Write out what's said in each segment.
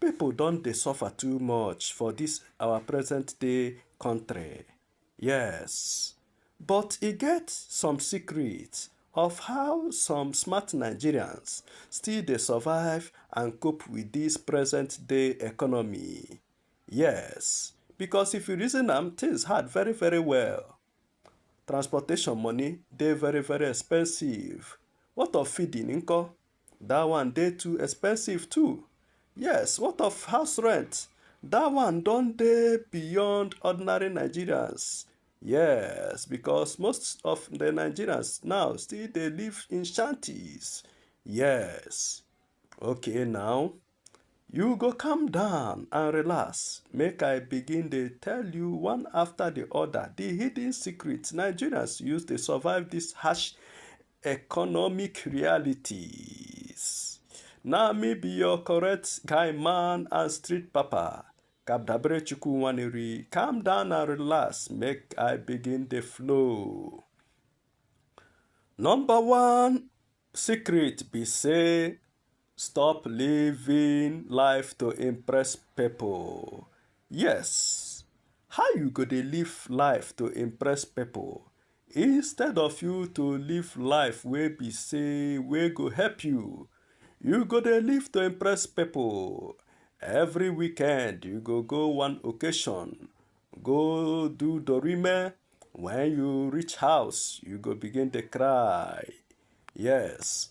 People don dey suffer too much for this our present day country, yes but e get some secret of how some smart Nigerians still dey survive and cope with this present day economy, yes because if you reason am things hard very very well, transportation money dey very very expensive, what of feeding nko? That one dey too expensive too. Yes, what of house rent? That one don dey beyond ordinary Nigerians. Yes, because most of the Nigerians now still dey live in shanties. Yes. Okay now, You go calm down and relax, make I begin dey tell you one after the other the hidden secrets Nigerians use dey survive this harsh economic realities. Na me be your correct guy man and street papa. Kabdabere Chukwu Nwaneri, calm down and relax, make I begin the flow. Number one secret be say Stop living life to impress people. Yes. How you go dey live life to impress people instead of you to live life wey be say wey go help you. You go dey live to impress people. Every weekend you go go one occasion, go do dorime. When you reach house, you go begin dey cry. Yes.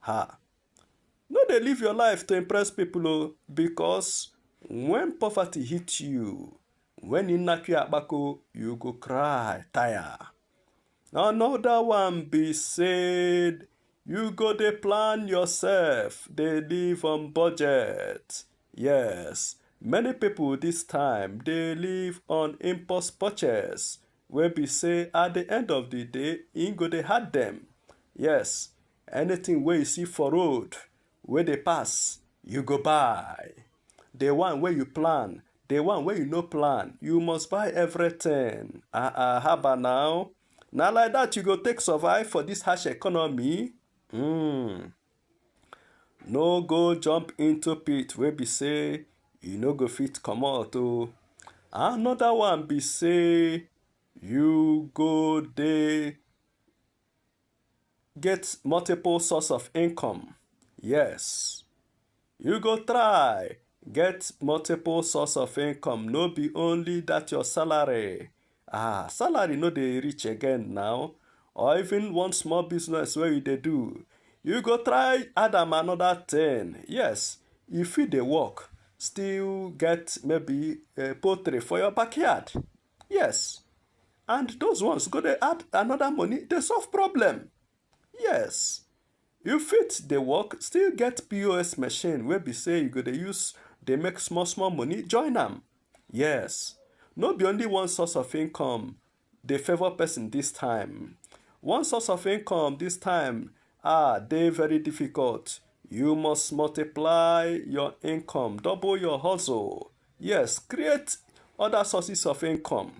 Ha! No dey live your life to impress people o oh, because when poverty hit you, when you knack your abako, you go cry tire. Another one be said you go dey plan yourself, dey live on budget. Yes, many people this time dey live on impulse purchase wey be say at the end of the day e go dey hard dem yes anything wey you see for road wey dey pass you go buy the one wey you plan the one wey you no plan you must buy everything ah ah haba now na like that you go take survive for this harsh economy mm. no go jump into pit wey be say you no go fit comot o another one be say you go dey get multiple source of income yes You go try get multiple source of income, no be only that your salary. Ah, salary no dey reach again now. Or even one small business where you dey do. You go try add am another thing. Yes, you fit dey work, still get maybe uh, poultry for your backyard. Yes. And those ones go dey add another money, dey solve problem. Yes. You fit dey work still get POS machine wey be say you go dey use dey make small small money join am. Yes, no be only one source of income dey favour person this time. One source of income this time ah dey very difficult. You must multiply your income, double your hustle. Yes, create other sources of income.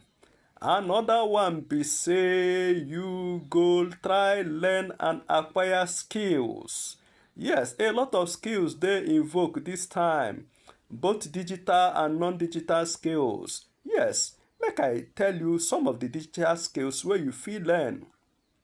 Another one be say you go try learn and acquire skills. Yes, a lot of skills dey invoke this time, both digital and non-digital skills. Yes, make I tell you some of the digital skills wey you fit learn.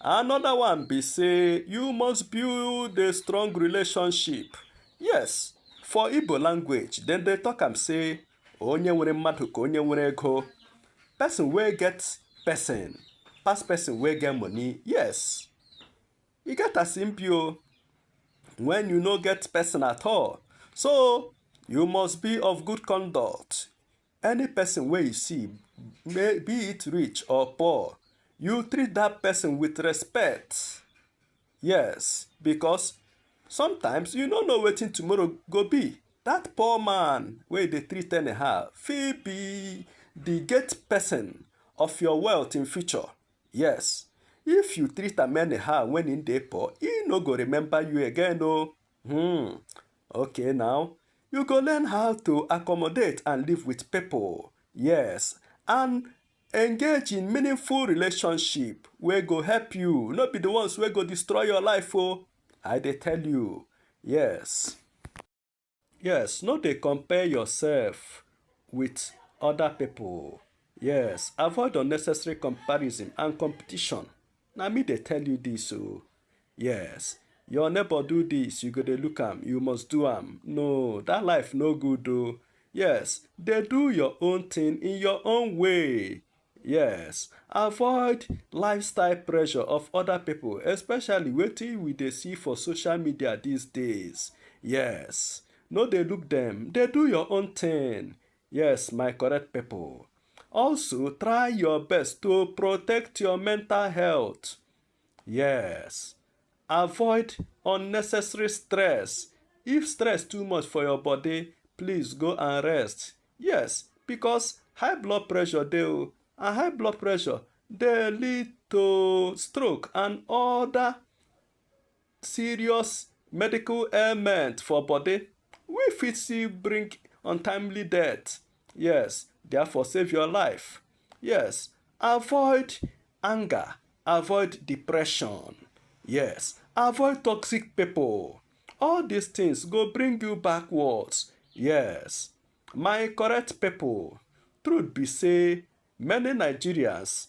Another one be say you must build a strong relationship. Yes, for Igbo language, then they talk am say onye nwere mmadụ ka onye nwere ego. Person wey get person pass person wey get money. Yes, e get as im be o when you no get person at all. So you must be of good conduct. any person wey you see may be it rich or poor you treat that person with respect yes because sometimes you no know wetin tomorrow go be that poor man wey dey treat anyhow fit be the gate person of your wealth in future yes if you treat am anyhow when he dey poor he no go remember you again o hmm Okay now, you go learn how to accommodate and live with people, yes, and engage in meaningful relationship wey go help you, no be the ones wey go destroy your life o, oh. I dey tell you, yes. Yes, no dey compare yourself with other people. Yes, avoid unnecessary comparison and competition. na me dey tell you this o oh. yes your neighbor do this you go dey look am you must do am no that life no good o oh. yes dey do your own thing in your own way yes avoid lifestyle pressure of other people especially wetin we dey see for social media these days yes no dey look them dey do your own thing Yes, my correct people. Also, try your best to protect your mental health. Yes. Avoid unnecessary stress. If stress too much for your body, please go and rest. Yes, because high blood pressure dey oh, and high blood pressure dey lead to stroke and other serious medical ailment for body wey fit still bring untimely death. Yes, therefore save your life. Yes, avoid anger, avoid depression. Yes, avoid toxic people. All these things go bring you backwards. Yes, my correct people, truth be say many Nigerians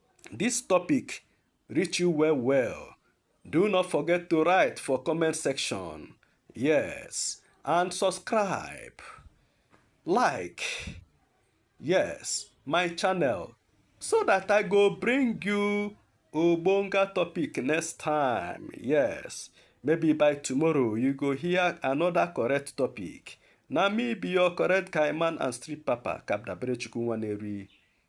this topic reach you well well, do not forget to write for comment section. Yes, and subscribe, like, yes, my channel so that I go bring you Obonga topic next time. Yes, maybe by tomorrow you go hear another correct topic. Na me be your correct guy man and street papa, Kabdabrechukwu Nwaneri.